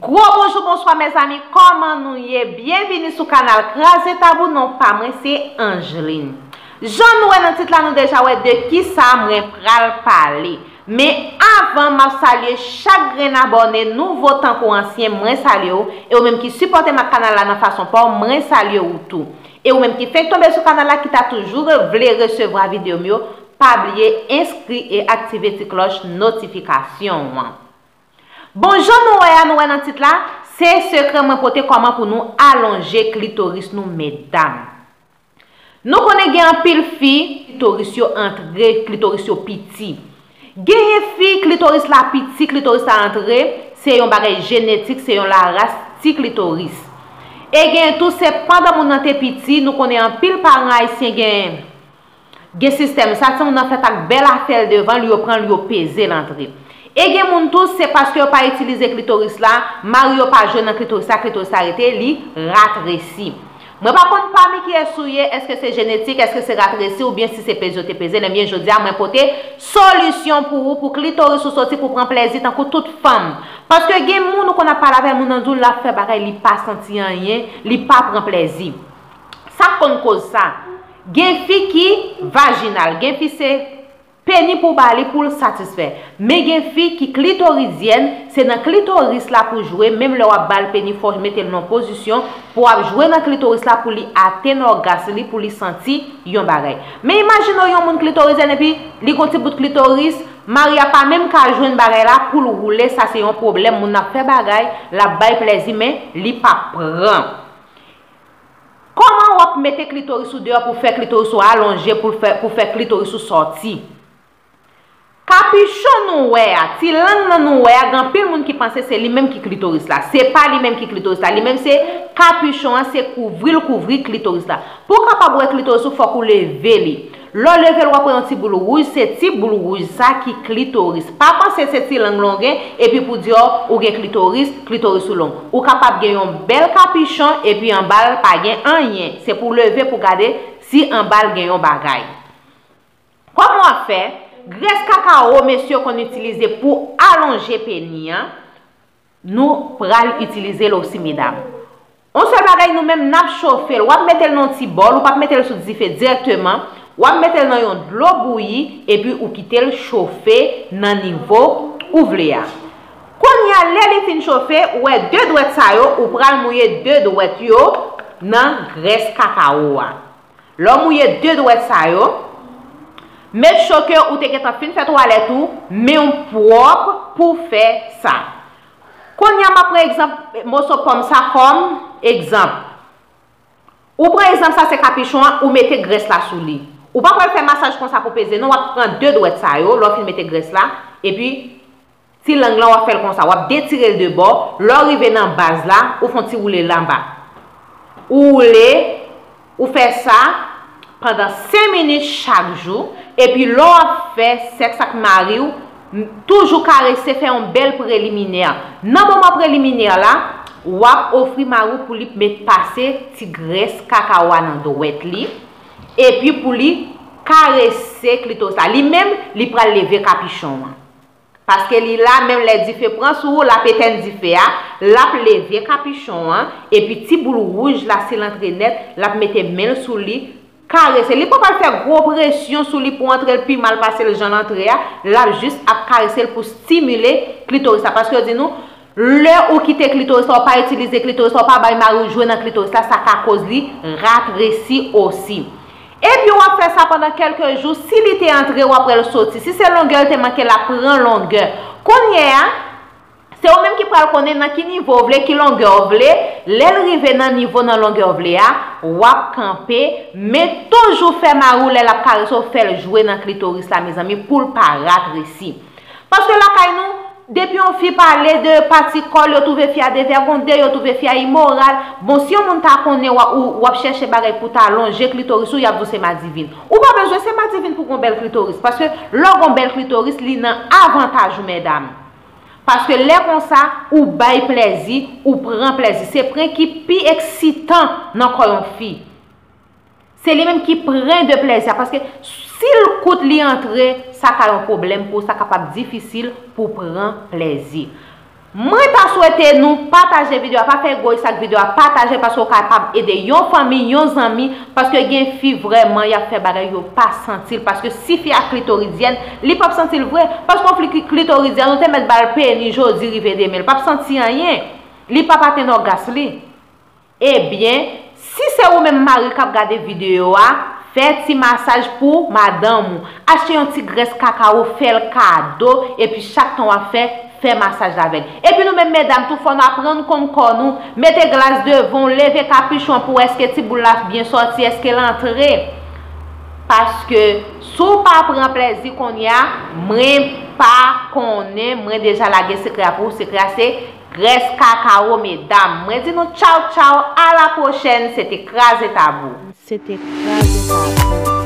Gwo bonjou bonswa mezanmi kòman nou ye byenvini sou kanal kraze tabou non pa mwen se Angeline jan nou wè nan tit la nou deja wè de kisa mwen pral pale men avan map salye chak grenn abòne nouvo tankou ansyen mwen salye ou e ou menm ki sipòtem ak kanal la nan fason paw mwen salye ou tou. E ou menm ki fenk tonbe sou kanal la ki ta toujou vle resevwa video m yo pa bliye enskri e aktive ti klòch notifikasyon an. Bon jan nou wè a nou wè nan tit la se sekrè mwen pote kòman pou nou alonje klitoris nou medam. Nou konnen gen anpil fi klitoris yo antre klitoris yo piti. Genyen fi klitoris la piti klitoris la antre se yon bagay jenetik se yon la ras ti klitoris e genyen tou se pandan moun nan te piti nou konnen anpil paran ayisyen gen gen sistèm sa ti moun nan fèt ak bèl afèl devanl yo pranl yo pezel antre e gen moun tou se paske yo pa itilize klitoris la mari yo pa jwe nan klitoris la klitoris la rete li ratresi Mwen pa konn pami kiyès ou ye, èske se jenetik, èske se rat resi ou byen si se peze yo te peze l enbyen jodi a mwen pote solisyon pou ou pou klitoris ou soti pou pran plèzi tankou tout fanm. Paske gen moun ou konn ap pale avè l moun an di w l ap fè bagay li pa santi anyen, li pa pran plèzi. Sa k konn koz sa? Gen fi ki vajinal, gen fi se. Peni pou ba li poul satisfè. Men gen fi ki klitorizyèn, se nan klitoris la pou jwe menm lè wap bal peni fò metel nan pozisyon pou ap jwe nan klitoris la pou li atenn ògas li pou li santi yon bagay. Men imajine w yon moun klitorizyèn epi li gon ti bout klitoris, mari a pa menm ka jwenn bagay la poul woule sa se yon pwoblèm moun nan ap fè bagay lap bay plèzi men li pap pran Kòman wap mete klitoris ou deyò pou fè klitoris ou alonje poul fè pou fè klitoris ou sòti. Kapichon nou wè a, ti lang nan nou wè a gen anpil moun ki panse se li menm ki klitoris la. Se pa li menm ki klitoris la. Li menm se kapichon an se kouvril kouvri klitoris la. Pou kapab wè klitoris ou fòk ou leve li. Lè w leve l wap wè yon ti boul wouj se ti boul wouj sa ki klitoris. Pa panse se ti lang longen epi pou di w ou gen klitoris, klitoris ou long. Ou kapab gen yon bèl kapichon epi anba l pa gen anyen. Se pou w leve pou w gade si anba l gen yon bagay. Kòman w ap fè? Grès kakawo mesye konn itilize pou alonje peni an. Nou pral itilize l osi medam. On sèl bagay nou menm nap chofe l, wap mete l nan yon ti bòl, ou pap mete l sou dife dirèkteman, wap mete l nan yon dlo bouyi epi ou kite l chofe nan nivo ou vle a. Kounye a lè li fin chofe, ou wè 2 dwèt sa yo, ou pral mouye 2 dwèt yo nan grès kakawo a. Lè w mouye de dwèt sa yo, make sure ke ou te gentan fin fè twalèt ou, men w pwòp pou w fè sa. Kounye a m ap pran egzanp moso pòm sa kòm egzanp. Ou pran egzanp sa se kapichon an, ou mete grès la sou li. Ou pa pral fè masaj konsa pou peze non, w ap pran de dwèt sa yo lè w fin mete grès la, epi Ti lang lan w ap fè l konsa, w ap detire l de bò, lè w rive nan baz la, ou fon ti woule l anba. Ou woule, ou fè sa pandan 5 minit chak jou, epi lè w ap fè sèks ak mari w, toujou karese, fè yon bèl preliminè. Nan moman preliminè la, w ap ofri mari w pou li p met pase ti grès kaka w a nan dwèt li, epi pou li karese klitoris la. Li menm, li pral leve kapichon an. Paske li la menm lè dife pran sou ou lap etenn dife a, lap leve kapichon an, epi ti boul wouj la sil antre nèt, lap mete menl sou li, karese li pa pral fè gwo presyon sou li pou antrel pi mal pasel janl antre a, lap jis ap karesel pou stimile klitoris la, paske yo di nou. Lè ou kite klitoris la ou pa itilize klitoris la ou pa bay mari w jwe nan klitoris la sa ka koz li ratresi osi. Epi wap fè sa pandan kelke jou si li te antre wap wèl soti si se longè l te manke lap pran longè kounyè a se ou menm ki pral konnen nan ki nivo w vle ki longè w vle lè l rive nan nivo nan longè w vle a wap kanpe men toujou fè mari w lè lap karese w fè l jwe nan klitoris la mezanmi pou l pa ratresi. Paske lakay nou, depi yon fi pale de pati kò l, yo twouve fi a devègonde, yo twouve fi a imoral. Bon, si yon moun ta konnen w, w ap chèche bagay pou w ta lonje klitoris ou, y ap di w se madivin. Ou pa bezwen se madivin pou w gen yon bèl klitoris. Paske lè w gen yon bèl klitoris, li nan avantaj ou medam. Paske lè konsa, ou bay plèzi, ou pran plèzi. Se pren ki pi eksitan nan kò yon fi. Se li menm ki pren de plèzi a paske si l kout li antre sa ka yon pwoblèm pou ou, sa kapab difisil pou w pran plèzi. Mwen ta swete nou pataje video a, pa fè egoyis ak video a, pataje l paske ou kapab ede yon fanmi, yon zanmi paske gen fi vrèman y ap fè bagay yo pa santi l paske si fi a klitoridyèn li p ap santi l vre paske yon fi ki klitoridyèn ou te mèt ba l peni jodi rive demen l p ap santi anyen li p ap atenn ògas li. Ebyen, si se ou menm mari kap gade video a, fè ti masaj pou madanm ou. Achte yon ti grès kakawo fèl kado epi chak tan wap fè, fè masaj avèl. Epi nou menm medam tou fò nou aprann konn kò nou, mete glas devan w, leve kapuchon an pou wè eske ti boul la byen sòti, eske l antre. Paske si w pa pran plèzi kounya, mwen pa konnen, mwen deja lage sekrè a pou ou, sekrè a se. Grès kakawo medam mwen di nou tchaw tchaw a la pwochèn se te kraze tabou. Se te kraze tabou.